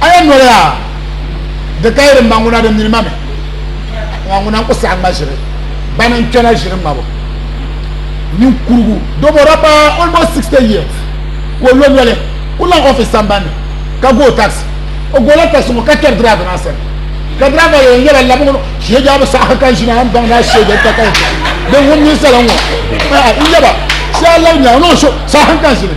A yɛn noli a di ka yi di ma ŋuna di nini ma mi a ŋuna n-ku saɣi ŋma ʒiri bani n-kpɛna ʒiri ŋmabu ninkurugu dobo da pa almost 60 years ka o lo noli ku laŋ office sambani ni ka go taxi o gola taxi ŋɔ ka kpɛri driver maa sani ka driver yɛn yɛla labi ŋɔ shee jaabu saɣi ka kan ʒina n-baŋ daa shee jɛli ka kan ʒina din ŋun ninsala ŋɔ n-yɛba shee a labi nyaŋ no so saɣi kan ʒini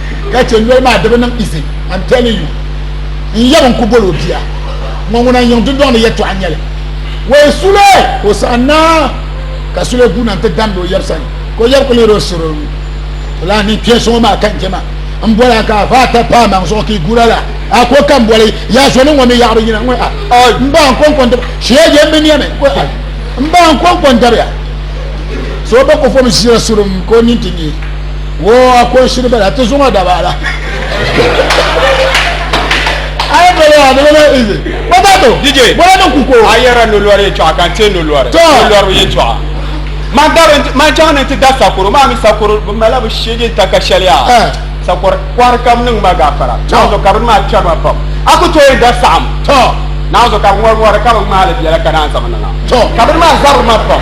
ka chɛ noli maa di bi niŋ izi I'm telling you n yab n ku bol o bia ŋɔ ŋuna n yiŋ dundɔŋ ni yɛtɔɣa nyɛli wee Sule ka o saɣi naa ka Sule guuna n ti damdi o yab sani ka o yab ku lihiri o sir o nuu o lahi niŋ kpɛ so ŋɔ maa ka n jɛma n boli a ka a va ata pa maŋ zuɣu ka i guura la a ko ka n boli yaa so ni ŋɔ mi yaɣiri yina ŋɔ a n ba n kɔnkɔ n dabi shee jɛ n mi niɛmi ŋɔ a n ba n kɔnkɔ n dabiya so ba kɔfɔm ʒira sirum ka o nini ti nyɛ wo a kɔnshiri bala ti zuŋɔ da baala ayi bala a bala na izi baba to dj bɔla ni kuko a yɛra nolɔri yɛ tɔɣa ka n tee nolɔri nolɔri yɛ tɔɣa man dari man chaŋ ni ti da sakoro maa mi sakoro bi mala bi shege n ta ka shɛliya sakoro kɔri kam niŋ ma gaafara naanzo ka bini maa kpɛri ma pam a ku tooi da saɣam naanzo ka ŋɔri ŋɔri ka bi ŋmaali biɛla ka naan zaŋ niŋa ka bini maa zabiri ma pam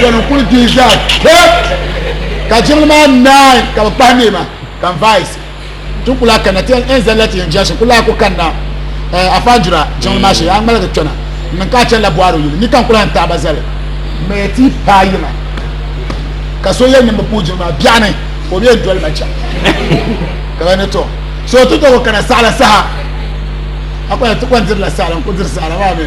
dɔni kuli dihi zaa pep ka jiŋli maa naai ka bi kpahi neema ka n vais ti kuli a kanna ti yɛn zali la ti yɛn jɛsi kuli a ku kanna eh, a fanjura jiŋli maa shee a ŋmaligi kpɛna n niŋ ka a chɛni la bɔharo yili ni ka n kuli a n taaba zali mɛ ti paa yiŋa ka so yɛn nimbi puu jiŋli maa biɛɣu ni ka o bɛ yɛn doli ma chɛŋ ka ba ni tɔ so ti tɔgo kana saɣala saha a kɔni ti kɔni dirila saɣala n ku diri saɣala maa mi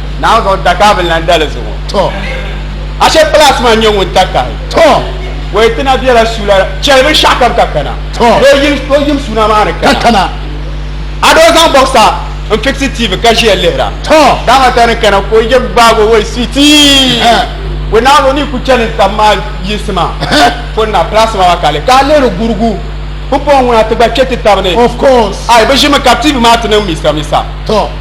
Naawuni zaŋ dakahabili na n-dali zuɣu. To. Ashe kpalaasi maa n-nyɛ ŋun takahi. To. Wei ti na bela suula cheli binshɛɣu kam ka kana. To. Ni o yim, o yim suuna maa ni kana. Ka kana. A doo zaŋ bɔɣisa n-fiksi TV ka ʒiya lihira. To. Dama ta ni kana ka o yim gbaag o Wei sweetie. Heh. Wei Naawuni o ni ku cheli n tam maa yinsi maa Heh. poni na kpalaasi maa maa ka a lihi ka a lihiri gurugu pumpɔŋɔ ŋuna ti gba kpe ti taba ni. Of course. Ai bɛ ʒimi ka TV maa ti niŋ misamisa. To.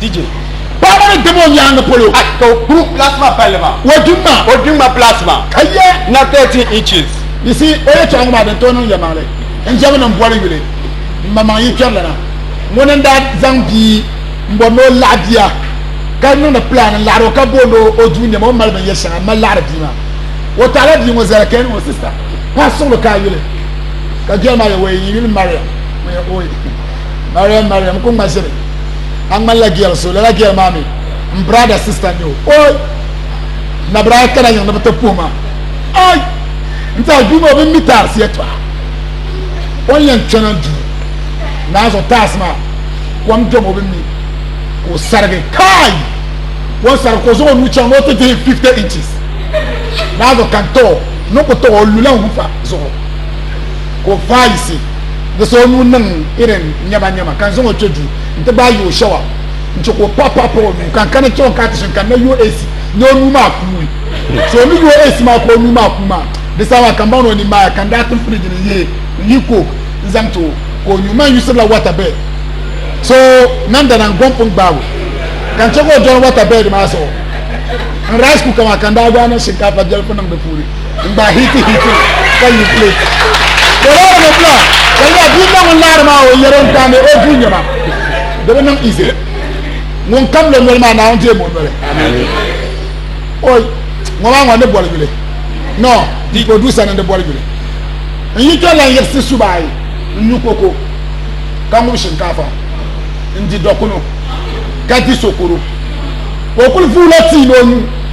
DJ. Paɣaba ni dam o nyaanga polo. Ay ka o kuru plasma balli maa. O di ma. O di ma plasma. Ka yɛ. Na 13 inches. You see, o yɛtɔɣa ŋɔ maa din tooi niŋ yɛlimaŋli n-jɛmi ni m-boli yuli m-maŋmaŋ yi kpɛri lana. Ŋuni n-daa zaŋ bia m-bɔri ni o laɣi bia ka niŋdi plan n-laɣiri o ka booni o o duu nɛma o ni mali binyɛri shɛŋa m-mali laɣiri bia maa. O taɣila bia ŋɔ zali ka yɛli o sister, paɣa suɣili ka a yuli ka girl maa yɛ o yɛn yuli Mariam. mariam mariam ku ŋma ʒiri a ŋmanila gɛl so lala gɛl maa mi n brada sista n nyɛ o oi nabiraya kana yiŋ ni bi ti puhi ma oi n tiɛha duu ŋɔ bin mi taarisi yɛtɔɣa o ni yɛn chana duu naa zuɣu taarisi maa kom dom o bin mi ka o sarigi kai o ni sarigi ka o zaŋ o nuu chaŋ ni o ti dihi 50 inches naa zuɣu kan too ni ku too o lula n hufa zuɣu ka o faayisi di so o nuu niŋ irin nyɛma nyɛma ka n zaŋ o kpe duu n ti gbaai yi o shawa n chɛ ka o paɣi paɣi pa o nuu ka n kana chɛ o ka ti shini ka n na yo eesi ni o nuu maa kuui so o ni yo eesi maa ka o nuu maa kuui maa di saha maa ka m baŋ ni o ni maaya ka n daa tim firiji ni n yihi n yihi kook n zaŋ ti o ka o nyu maa n yusirila wata bɛd so nan dana n gom pun gbaag o ka n chɛ ka o dɔni wata bɛd maa zuɣu n rice kuka maa ka n daa gbaai niŋ shinkaafa biɛlifu niŋ di puuni N gbaai hiiti hiiti ŋɔ ka yihi plate. Bɛ loori ni bla, ka nya bia ŋɔ ŋun naari maa o yɛli o ni daa me o duu nɛma di bi niŋ izi. Ŋun kam lo noli maa Naawuni deemi o noli. Oi, ŋɔ maa ŋɔ ni boli yuli. No, di ka o duu sani n di boli yuli. N yi tɔri lan yiɣisi suba ayi n nyu koko ka ŋub shinkaafa n di dɔkunu ka di sokoro. O kuli vuula tii ni o nyu.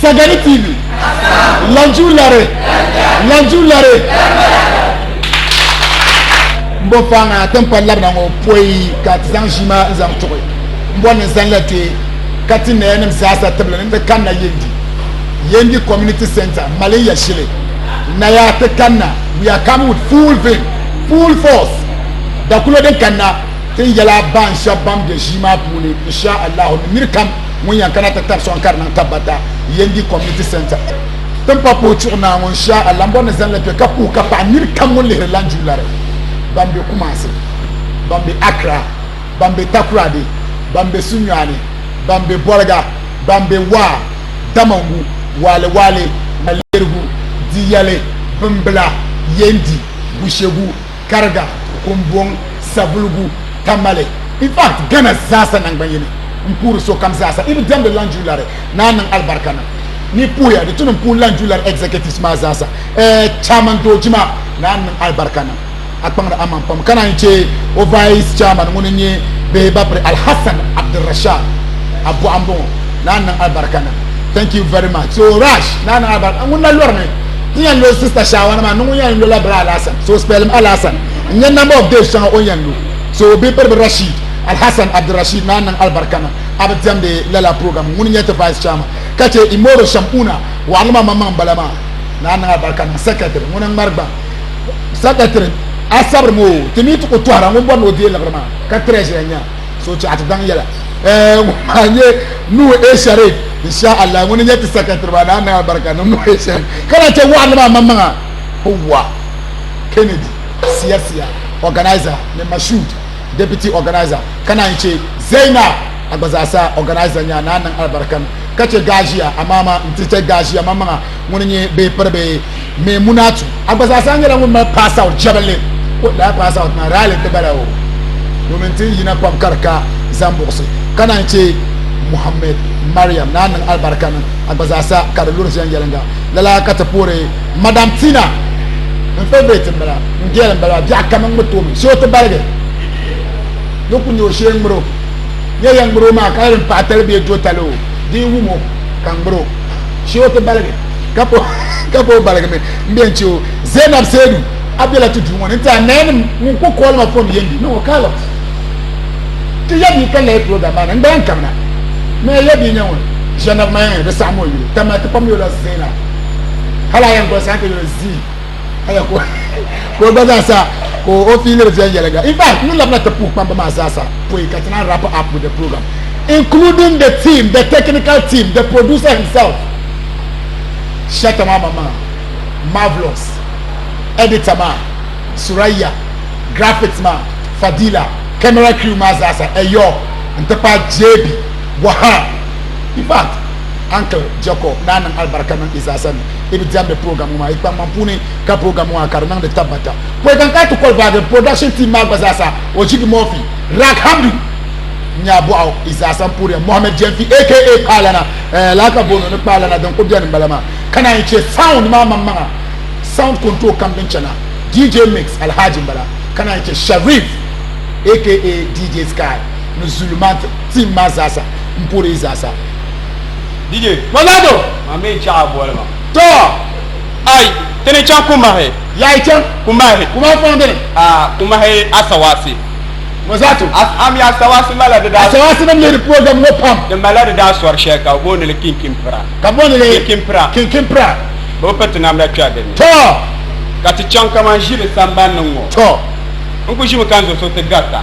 Sagani TV, Lanju Lare, Lanju Lare. N bɔ faaŋa tinkpari labina ŋɔ pɔi ka ti zaŋ ʒii maa n-zaŋ tuɣi. N bɔ ni zani la ti ka ti nayanim zaasa tibili ni ti kanna Yendi, Yendi Community Centre, Malin Yashili. Naya ti kanna, we are coming with full vim, full force. Dakulo din kanna ti n yɛla baanshɛb ban be ʒii maa puuni, Insha Allahu, ni niri kam. ŋun yɛn kana ti tabi sɔŋ ka di niŋ tabbata Yendi Community Centre din pa puhi chuɣu naa ŋun shia a lambɔri ni zani li kpe ka puhi ka paɣi niri kam ŋun lihiri lan ju lari ban be Kumasi, ban be Accra, ban be Takoradi, ban be Sunyani, ban be Bolga, ban be Waa, Damongu, Waale Waale, Malerigu, Diyale, Bimbila, Yendi, Gushegu, kariga kumbɔŋ sabuligu tamale in fact Ghana zaasa nangban'yini m-puhiri sokam zaasa di ni diɛmdi Lanjulari naa niŋ alibarika na ni yi puhiya di tuni m-puhi Lanjulari executives maa zaasa ɛɛ chairman dooji maa naa n-niŋ alibarika na a kpaŋdi aman pam ka naan yi che o vice chairman ŋuni n-nyɛ bihi bapiri Alhassan Abdulrashad Abuaɣu m-bɔŋɔ naa n-niŋ alibarika na thank you very much so Rash naa niŋ alibarika ŋuni na lɔri ni n yɛn lo sista shaawana maa niŋ o yɛn lola bira alaasan so o spɛlim alaasan n nyɛ namba of days shɛŋa o yɛn lo so o bibiribi rashid alhassan abdirashid naa niŋ alibarika na a bi diɛmdi lala program ŋuni nyɛ ti vice chairman ka chɛ imoro shamuna waɣiri ma maŋmaŋ bala maa naa niŋ alibarika niŋ secretary ŋuni n ŋmari gbaŋ secretary a sabiri ŋɔ ti mi ti ku tɔhira ŋun bɔri ni o deei liɣiri maa ka treasurer nya so chɛɣa ti daŋ yɛla ŋun maa nyɛ nuhu e sharif insha allah ŋuni nyɛ ti sakatiri maa naa niŋ alibarika niŋ nuhu e sharif ka lahi chɛ waɣanli maa maŋmaŋa howwa kennedy siya siya organizer ni mashud deputy organizer ka naan chɛ zainab a gba zaa sa organizer nya naa niŋ alibarika ni ka chɛ gaazia amaama n ti chɛ gaazia maŋmaŋa ŋuni nyɛ bee piri bee mee munaatu a gba zaa sa nyɛla ŋun mali pass out jɛbinli ko daa pass out maa raali ti bala o domin ti yina pam ka di ka zaŋ buɣisi ka naan chɛ muhammed mariam naa niŋ alibarika niŋ a gba zaa sa ka di luri viɛn yɛlinga lala ka ti puhiri madam tina n favorite n bala n gɛl n bala biɛɣu kam n ŋmi toomi so ti baligi ni ku nyɛ o shee ŋmiro nyɛ yɛn ŋmiro maa ka yɛn paɣa tali bee do tali o dii wumo ka ŋmiro Che o ti baligi ka po ka po baligimi n bɛ n che o Zainab Seidu a bela ti duu ŋɔ ni n tiɛha nayanim ŋun ku kɔɔli ma fon yendi ni o Carlot ti ya bia ka lahi program maa ni n gba yɛn kabina ni a ya bia nya ŋun Zainab ma yɛn di saɣim o yuli tama ti pam yola Zainab hali a yɛn gɔli saha ka yuli zii aya ko ko gba zaa sa ko o fiiliri viɛnyɛliŋga in fact ni labina ti puhi kpamba maa zaa sa pɔi ka ti naan wrap up with the program including the team the technical team the producer himself shata maa mama marvelous editor maa suraya graphics maa fadila camera crew maa zaa sa ɛyɔ n ti pahi jb waha in fact uncle jacob naa niŋ alibarika niŋ i zaa sa ni i bi diɛmdi program ŋɔ maa yi kpaŋmaŋ puuni ka program ŋɔ maa ka di niŋdi tabbata pɔi ka n kana ti kɔli vaagi production team maa gba zaasa o jigi mɔfi rak hamdu nyaa bɔɣu i zaasa n puhiriya mohammed jɛnfi aka kpaalana eh, laa ka booni ni kpaalana din ku bɛni bala maa ka naan yi chɛ sound maa maŋmaŋa sound control kam din chana dj mix alhaji n bala ka naan yi chɛ sharif aka dj sky ni zulumant team maa zaasa n puhiri i zaasa DJ, Ronaldo maa mi n-chaɣ a boli maa. Too! Ai! Ti ni chaŋ Kumahi. Yaa yi chaŋ? Kumahi. Kumahi pɔŋ di ni? Aa! Kumahi Asawaasi. Ŋɔ zaa ti? Am ya Asawaasi malila di daa. Asawaasi nim lihiri program ŋɔ pam. Di malila di daa sɔri shɛli ka bɛ booni li Kinkinpira. Ka booni li? Kinkinpira. Kinkinpira. Bɛ bi piri ti namda kpɛri di ni. Too! Ka ti chaŋ kaman ʒiri sambani ni ŋ-ŋɔ. Too! N ku ʒimi ka n zuɣu so ti garita.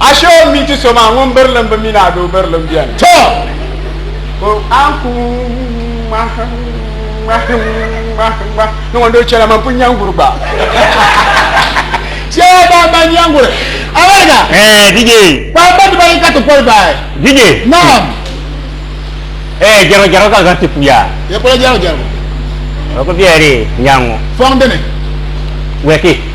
Ashe o mi ti so maa ŋun birilim bi mi ni a doo birilim beni. To! Ko a ni ku ŋmahi ŋmahi ŋmahi ŋmahi ni ŋun doo chɛla man pun nyanguri gba. Chɛya ban ba nyanguri. Awariga. Eh, DJ. Kpamba dibayi ka ti poli bahi. DJ. Naam. Eh, jɛrigu jɛrigu ka zaŋ ti puya. Ye polo jɛrigu jɛrigu. O ku biɛri nyaŋ ŋɔ. Fɔŋ dini? Wɛki.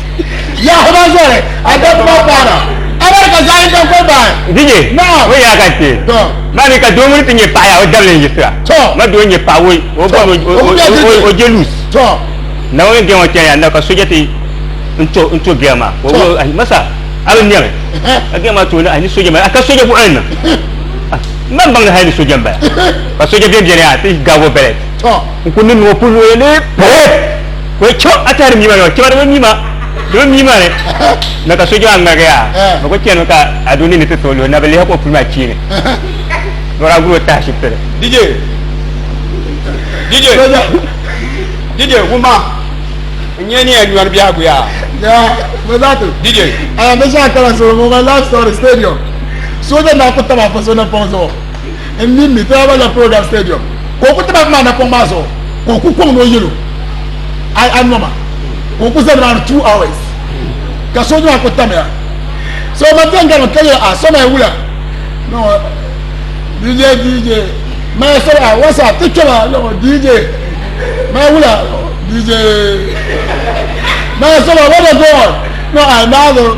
Yahuba zɔri a dabba paana alali ka zaɣ yinga goli bahi. Dije, o yaa ka ti ba mi ka doo ŋuni ti nyɛ paɣa yaa o dabili n-yiɣisira. Ma doo n-nyɛ paɣa o jeluus. Naawuni n-gen o chani yaa na ka soja ti n-to bia maa. Ma sa, a bi nɛmi ka bia maa tooi ni ahi ni soja maa a ka soja buɣili ni. M ba m-baŋ ni hali ni soja m-bala ka soja bɛn beni yaa ti gaag o bɛlɛt n-kuli niŋ o puli luɣili ni pɛrɛt. Ka o chɛ a tɛhiri mia maa yɔŋ chɛba di bi mia di bi mia maa ni na ka so jɛ a ŋmaligi yaa bi ku chɛni ka a doo nini ti tooi luhi na bi lihi ka o puli maa chiini lɔra a guri o tahi shibitili. DJ DJ DJ wuma n nyɛ ni yɛn nyɔri biɛhigu yaa. Yaa bi zaa ti. DJ. Ayaa bi shɛba kala solo ŋɔ ka life story stadium sooja naa ku taba a fa so ni pɔŋ zuɣu. n mini mi Taraba Land Program Stadium ka o ku ti bahi maa napɔŋ maa zuɣu ka o ku kɔŋ ni o yɛlo ai a noma ka o ku za nimaani two hours ka sooja maa ku tamya so ma bɛn gari mi ka yɛ a so ma wula no DJ DJ ma so a wasa ti kpɛma no DJ ma wula DJ ma so ma wada go on no I know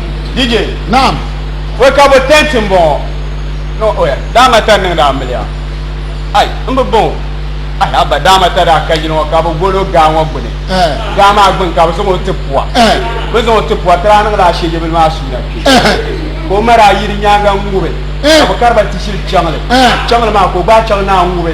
DJ. Naam. Wai ka bo tent n bɔŋɔ. No oya daama ta niŋda a miliya. Ai n bi baŋ o. Ai haba daama ta daa ka yili ŋɔ ka bi gol o gaa ŋɔ gbuni. Eh. Gaa maa gbuni ka bi zaŋ o ti pua. Eh. Bi zaŋ o ti pua ti daa niŋla ashejebili maa suuna kpe. Eh. Ka o ma daa yiri nyaanga n ŋubi. Eh. Ka bi kariba ti shili chaŋli. Eh. Chaŋli maa ka o gbaai chaŋ naa ŋubi.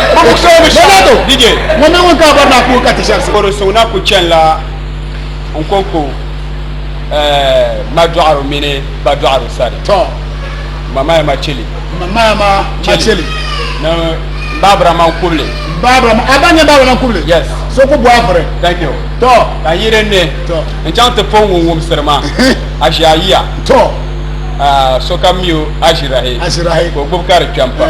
Koro so na ku chɛn la n konko ma dɔɣiro mini ba dɔɣiro sani ma maya ma chili ni baabira man kubili so ku bɔhibiri ka yi din ni n chaŋ ti pɔn ŋun wumsiri ma a ʒi a yiya sokam mi o a ʒirahi ka o gbubi ka di kpɛm pam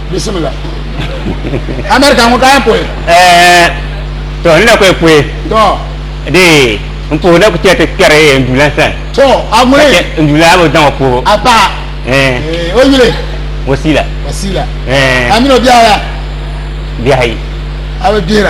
bisimila amerika ŋɔ ka yɛn puhi to n na kɔɛ puhi de n puhi na ku chɛ ti kpɛri n dula sani to a ŋuni n dula bi zaŋ o puhi a paɣa o yuli wasila wasila a mini o bihi aya bihi ayi a bi gbihira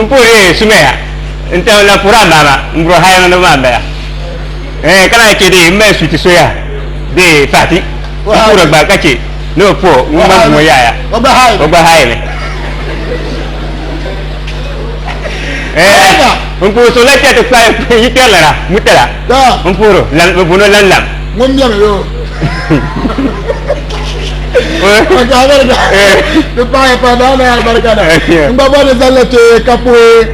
N puhi di yɛn sumi ya nti na puhiri a maama m-buri haya niŋdiba maa m-bala. Ɛɛh ka lahi chɛ di m mali suti soya bee paati m-puhiri gba ka chɛ ni o puhi ŋun gba ŋ-ŋɔ yaaya o gba haai mi. Ɛɛh n puhi so la chɛ ti kpahi yi kpɛrilana mutala m-puhiri o, bɛ booni o Lanlam. ŋun mɛmi yo ka albarka di paɣaya pa daa na albarka na n gba bɔri zalila kpe ka puhi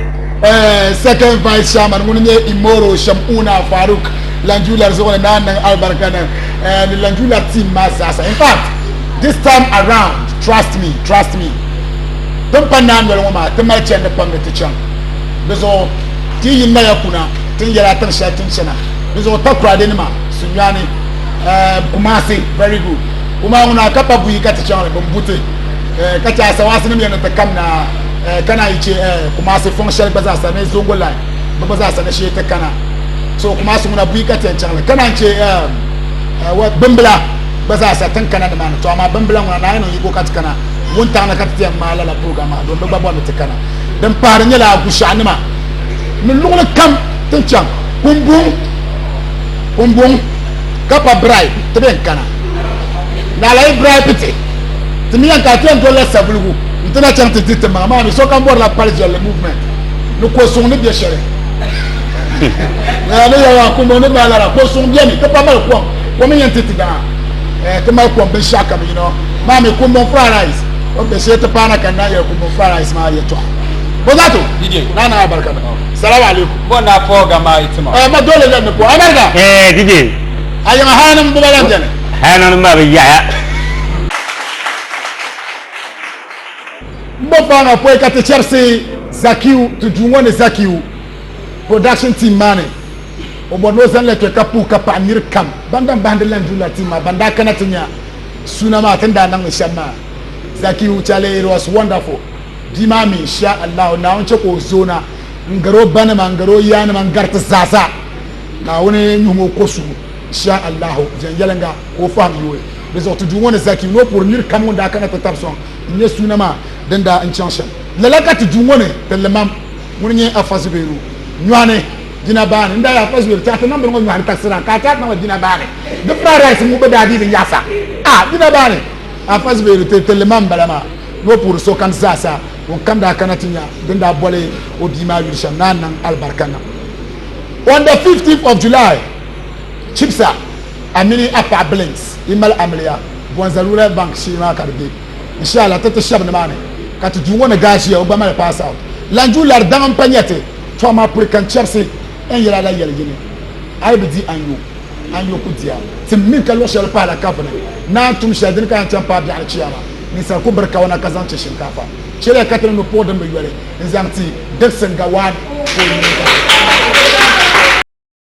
second vice chairman ŋun nyɛ imoro shamuna faruk lanjular zuɣu ni naa niŋ albarka na ni lanjular team maa zaasa in fact this time around trust me trust me din pa naa noli ŋɔ maa ti mali chɛndi pam ni ti chaŋ di zuɣu ti yi naya kuna tin yɛla tiŋ shɛli tin chɛna ni zuɣu takurade nima Sunyani eh, Kumasi very good kuma ŋuna ka pa buyi ka ti chaŋli bin buti eh, ka chɛ asawaasi nim yɛn ni ti kamina eh, kana yi chɛ eh, Kumasi fɔŋ shɛli gba zaasa ni Zongo line bi gba zaasa ni shee ti kana so Kumasi ŋuna buyi ka ti yɛn chaŋli kana n chɛ eh, eh, wa- bimbila gba zaasa tin kana ni maani to amaa bimbila ŋuna naa yɛn niŋ yigo ka ti kana wuntaŋ ni ka ti ti yɛn ŋmaa lala program maa don bi gba bɔri ni ti kana din pahari nyɛla Agushaɣu nima ni luɣuli kam tin chaŋ Kumbuŋ kumbuŋ ka pa bribe ti be n kana naala yi bribe ti ti mi yɛn ka ti yɛn dolila sabuligu n ti na chaŋ ti di ti maŋa maa mi sokam bɔrila pali viɛlli movement ni ko suŋ ni bɛ shɛli ni yawa kumbuŋ ni baa lara ko suŋ bɛni ti pa mali kom kom n yɛn ti ti daŋa ti mali kom binshaɣu kam yino maa mi kumbuŋ fried rice o bɛ shee ti paana ka na yɛli kumbuŋ fried rice maa yɛtɔɣa bɔzato naa naa barika salamu alaikum Bo na pɔɔ ga maa yi tima. Ma dole la ni pɔɔ America. Ee DJ. A yiŋa haya nim gba lan beni. Haya nim maa bi yaɣiya. N bo paa maa pɔi ka ti chɛrisi Zakiu ti duu ŋɔ ni Zakiu production team maa ni o bɔri ni o zaŋla kpe ka puhi ka paɣi niri kam ban dan bahindi lan duu la team maa ban daa kana ti nya suuna maa tini daa niŋmi shɛm maa Zakiu Chale it was wonderful bia maa mi Insha Allahu Naawuni che ka o zoona n gari o ba nima n gari o yaa nima n gari ti zaasa naawuni nyuhum o ko suhu sha allahu viɛn yɛlinga ka o fahim yooi di zuɣu ti duu ŋɔ ni zaki ni o puhiri nir kam ŋun daa kana ti tab sɔŋ n nyɛ suuna maa din daa n chaŋ shɛm lala ka ti duu ŋɔ ni ti limam ŋuni nyɛ afa zubairu nyɔɣani jina baani n daa yɛ afa zubairu taati nambili ŋɔ nyɔɣani taɣisira ka a taati nambili jina baani di fried rice ŋɔ bi daa dii din yaɣasa a jina baani afa zubairu ti ti limam bala maa ni o puhiri sokam zaasa ŋun kam daa kana ti nya din daa boli o bia maa yuli shɛm naan niŋ alibarika niŋ. On the 15th of July, Chibsa, a mini a paɣa Blinks yi mali amiliya Bonza Rural Bank shee maa ka di be. Inshalla ti ti shɛb nimaani ka ti duu ŋɔ ni daa ʒiya o gba mali pass out. Lanju lari daŋ m-pa nya ti tɔha maa puri ka n-chɛbisi N yɛl a la yɛli yini. A yi bi di a nyu, a nyu ku di a. Tim mi ka luɣ shɛli pahila kafuni naan tum shɛli dini ka yɛn chaŋ paai biɛɣuni chiyaama. Ninsal ku biri kawana ka zaŋ chɛ shinkaafa. Chɛliya ka ti niŋ nupɔɣu din bi yoli n-zaŋ ti Dickson Gawad ka o nini zahim.